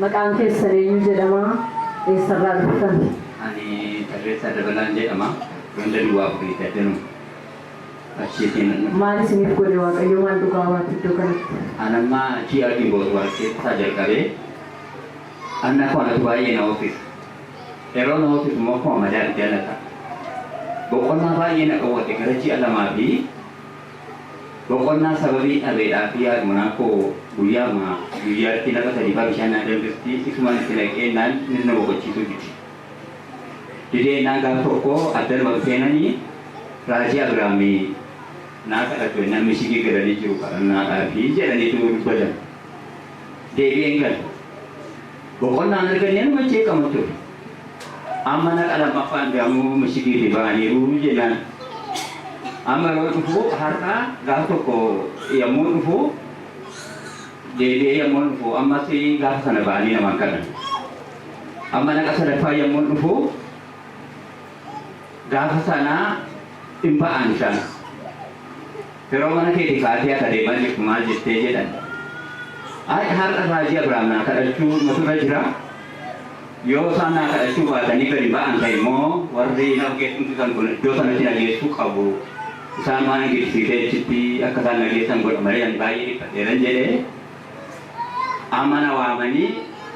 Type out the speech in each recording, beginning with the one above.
Maqaan keessan eenyu jedhama? Eessarraa dhuftan? Ani Tarreessaa Dabalaan jedhama. Ganda Duwwaa Afurii Daddanuu. Achiitiin nan dhufe. Maal isiniif godhe Waaqayyo maal dhugaa baatu iddoo kanatti? An amma ji'a Gimboot wal keessaa jalqabee anna koo anatu baay'ee na hoofisa. Hello namoota tumma koo Madaan Janata boqonnaa baay'ee na dhowwate gara ji'a lamaa fi boqonnaa sababii dhabeedhaaf yaadmunaa koo guyyaama guyyaatti lafa sadii faa bishaan naa danfisti isumaan itti naqeennaan niti na boqochiisuu dide dideennaan gaaf tokko addanuma dhufeenani raajii abiraamii naa kadhadhu ennaan mishigii galanii jiru kadhannaadhaafi jedhaniitu dubbatan deebi'een gale Boqonnaan arganii anuma jeeqama ture. Amma naqa lammaffaan deamuu mashidiitii ba'aniiru jennaan amma yeroo dhufuu har'a gaafa tokko yommuu dhufuu deebi'ee yommuu dhufuu ammas gaafa sana ba'anii namaan kadhan. Amma naqa sadaffaa yommuu dhufuu Gaafa sana in ba'an isaan. Yeroo mana keetii kaatii akka deemaa jirtu maal jettee jedhan. Ay har'a raajii Abrahaam naa kadhachuu matu irra jira. Yoo isaan naa kadhachuu baatanii gadi ba'an ta'e immoo warri na geessuusisan kun iddoo sanatti na geessuu qabu. Isaan waan hin geessisiisee achitti akka isaan na geessan godha malee ani baay'ee dhiphadheeran jedhee amma na waamanii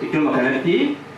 iddooma kanatti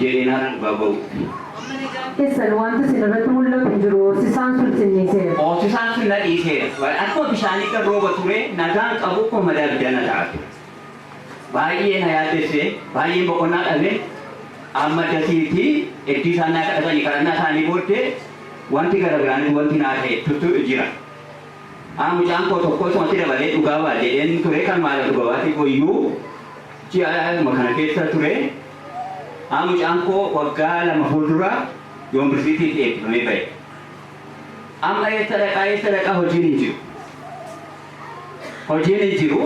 jedhee naan dhugaa ba'uutti. keessan wanti isin irratti mul'atu jiru hoosisaan sun xinniiseera. hoosisaan sun na dhiiseera. Baay- Akkuma bishaanii kan rooba ture nagaan qabu koo madaa ibiddaa na ta'a ture. Baay'ee na yaaddesse, baay'een boqonnaa dhabe. Amma dasiitti iddii isaan naa kadhatanii kadhannaa isaanii booddee wanti gara biraanis wanti naa ta'e tuttu jira. Haa mucaan koo tokko isumatti dabalee dhugaa ba'a jedheen ture kan maala dhugaa baate koo iyyuu ji'a kana keessa ture. An mucaan koo waggaa lama fuuldura Yoonbirsiitiitti eebbifamee bahe. Amma eessa dhaqaa eessa dhaqaa hojiin hin jiru. Hojiin hin jiru.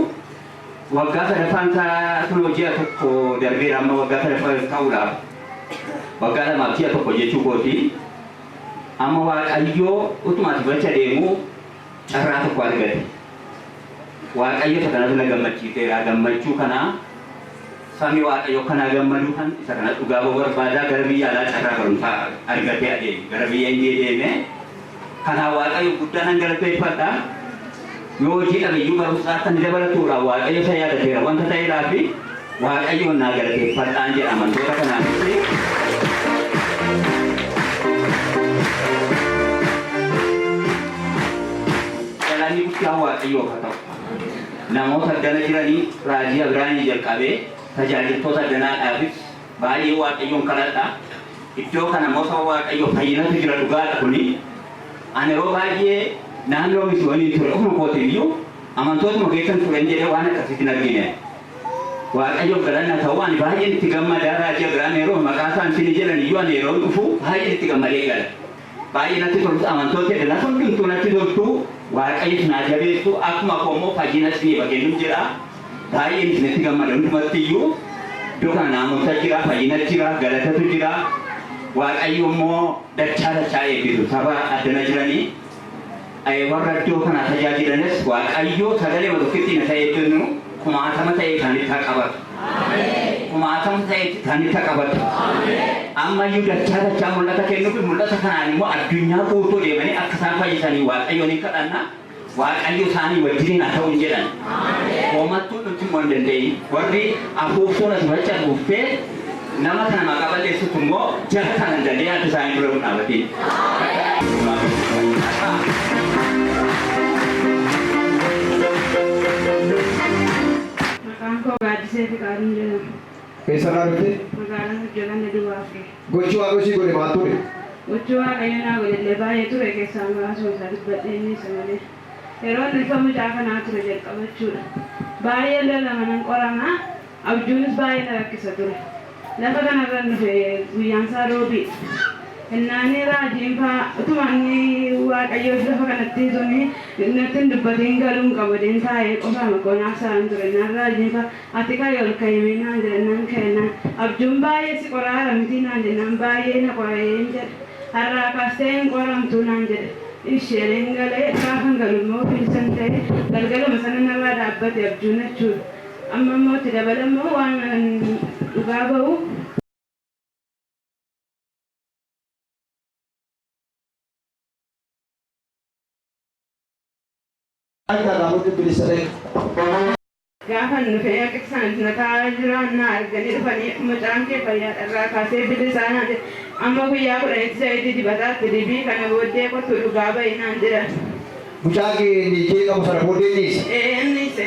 Waggaa sadaffaan isaa kunoo ji'a tokko darbeera amma waggaa sadaffaa ta'uudhaaf. Waggaa lamaaf ji'a tokko jechuu kooti. Amma Waaqayyoo utuma ati gocha deemuu carraa tokko argate. Waaqayyo isa kanatu na gammachiiseera. Gammachuu kanaa sabni Waaqayyo akka naa gammaduu kan isa kana dhugaa ba'uu barbaadaa gara biyya alaa carraa barumsaa argatee adeeme. Gara biyya Indiyee deeme. Kanaa Waaqayyo guddaa nan galateeffadha. Yoo hojii dhabeyyuu barumsaa akka inni dabalatuudha Waaqayyo isa yaadateera wanta ta'eedhaa fi Waaqayyoon naa galateeffadhaan jedha amantoota kanaafis. Galanni guddaan Waaqayyoof haa ta'u. Namoota addana jiranii raajii Abiraanii jalqabee tajaajiltoota addanaadhaafis baay'ee Waaqayyoon kadhadha. Iddoo kana immoo saba Waaqayyoo fayyinatu jira dhugaadha kuni. Ani yeroo baay'ee naannoo misiyoonii ture ofuma kootiin iyyuu amantootuma keessan turen jedhee waan akkasiitiin argine. Waaqayyoof galanni haa ta'u ani baay'een itti gammada Raajii Abiraam Yeroo maqaa isaa ansiin jedhan iyyuu ani yeroon dhufu baay'een itti gammadee gala baay'ee natti tolus amantoota edda lafa hundumtuu natti toltu Waaqayyo isin haa jabeessu akkuma koo immoo fayyina isiniif haa kennu jedha baay'een isinitti gammada hundumatti iyyuu iddoo kana naamusa jira fayyina jira galatatu jira Waaqayyo immoo dachaa dachaa eebbisu saba addana jiranii Ee warra iddoo kanaa tajaajilanis Waaqayyoo sagalema tokkittii na ta'ee jennu kumaatama ta'ee isaanitti haa qabatu. Kumaatama ta'ee isaanitti haa qabatu. Amma iyyuu dachaa dachaa mul'ata kennuuf mul'ata kanaan immoo addunyaa guutuu deemanii akka isaan fayyisanii Waaqayyoon hin kadhanna. Waaqayyo isaanii wajjiniin haa ta'u hin jedhan. Hoomattuu nutti immoo hin dandeenye. Warri afuuftuun as macha dhuftee Nama kana maqaa balleessutu immoo jara kana hin dandeenye adda isaanii dura hin dhaabatiin. Maqaan koo Gaaddisee Fiqaaduun jedhama. Eessarraa dhufte? Magaalaan Gujjalaan na duwwaa fi Gochi Waaqayyo sii godhe maal ture? gochi waaqayyo naa godhellee baay'ee ture keessaa muraasuma isaa dubbadhee inni isa malee. Yeroo inni ulfa mucaa kanaa ture jalqabachuudha. Baay'ee lolama nan qorama. Abjuunis baay'ee na rakkisa ture. Lafa kanarran dhufe guyyaansaa Roobiidha. Hennaanii raajiinfaa utuma inni Waaqayyos lafa kanatti utuu natti hin dubbatiin galuun qaba jedheen taa'ee qofaama koo naaf sa'aan ture. Naan raajiinfaa ati ka'i ol ka'imee naan jedha nan ka'e naan abjuun baay'ee si qoraara mitii naan jennaan baay'ee na qora'een jedha. Har'aa kaastee hin qoramtuu naan jedhe. Ishi jedheen galee gaafan galummoo ofiin san ta'e galgaluma sana narraa dhaabbate abjuun jechuudha. Amma immoo itti dabala immoo waan an dhugaa ba'u. Akka irraa murti bilisa ta'e. Gaafan dhufe Yaqibsaan na taa'aa jira na arganii dhufanii mucaan kee fayyaadha irraa kaasee bilisaa naan jedhe amma guyyaa kudhanitti zayitii dibataa itti dibii kana booddee kottu dhugaa ba'i naan jedhan. Mucaa kee inni ijjee qabu sana booddee inni hiise? Ee inni hiise.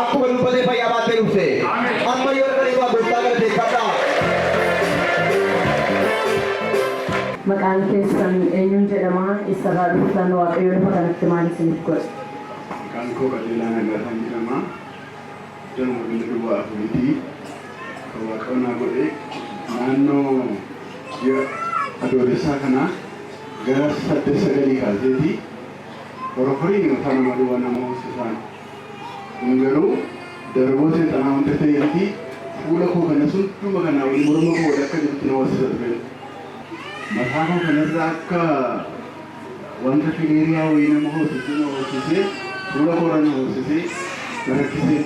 Akkuma dubbatee fayyaa baattee dhufte. Amma yoo dhaqanii waa gooftaa galateeffadhaa. Maqaan keessan eenyuun jedhama? Eessarraa dhuftan? Waaqayyo lafa kanatti maal isiniif godhe? Maqaan koo Qajeelaa Nagaasaa jedhama. Ganama ganda duwwaa afuriiti. Kan Waaqayyo naa godhe naannoo ji'a adoolessaa kana gara saddeet sagalii kaaseeti. Horoforiin yookaan nama duwwaa nama hoosisaan Kun garuu daraboo seexanaa wanta ta'ee miti, fuula koo kanas hunduma kanaa oli morma koo walakka jirutti na horsiisa ture. Mataa koo kana irra akka wanta fileeriyaa wayii nama hoosisuu na hoosisee, fuula koo irra na hoosisee na rakkise.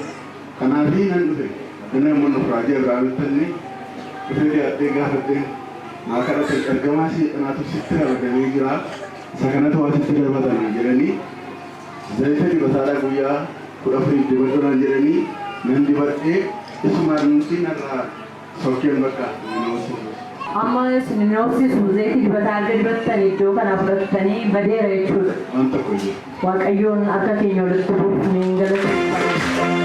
Kanaaf nan dhufe, addana immoo nuuf raajii Abrahaamitti anne dhufee dhiyaadhee gaafadheen naa kadhate, ergamaa seexanaatu sitti ramadamee jira, isa kanatu waa sitti darbata naan jedhanii, Zayita dibataadhaa guyyaa kudha afuriif dibadhu naan jedhanii nan dibadhee isumaan nuusii narraa sokkeen bakka nimiyoosii ture. Amma isin nimiyoosiisu zayiti dibataa erga dibattan iddoo kanaa fudhattanii badeera jechuudha. Waan tokko hin jiru. Waaqayyoon akka keenya walitti buufnee hin galateeffannu.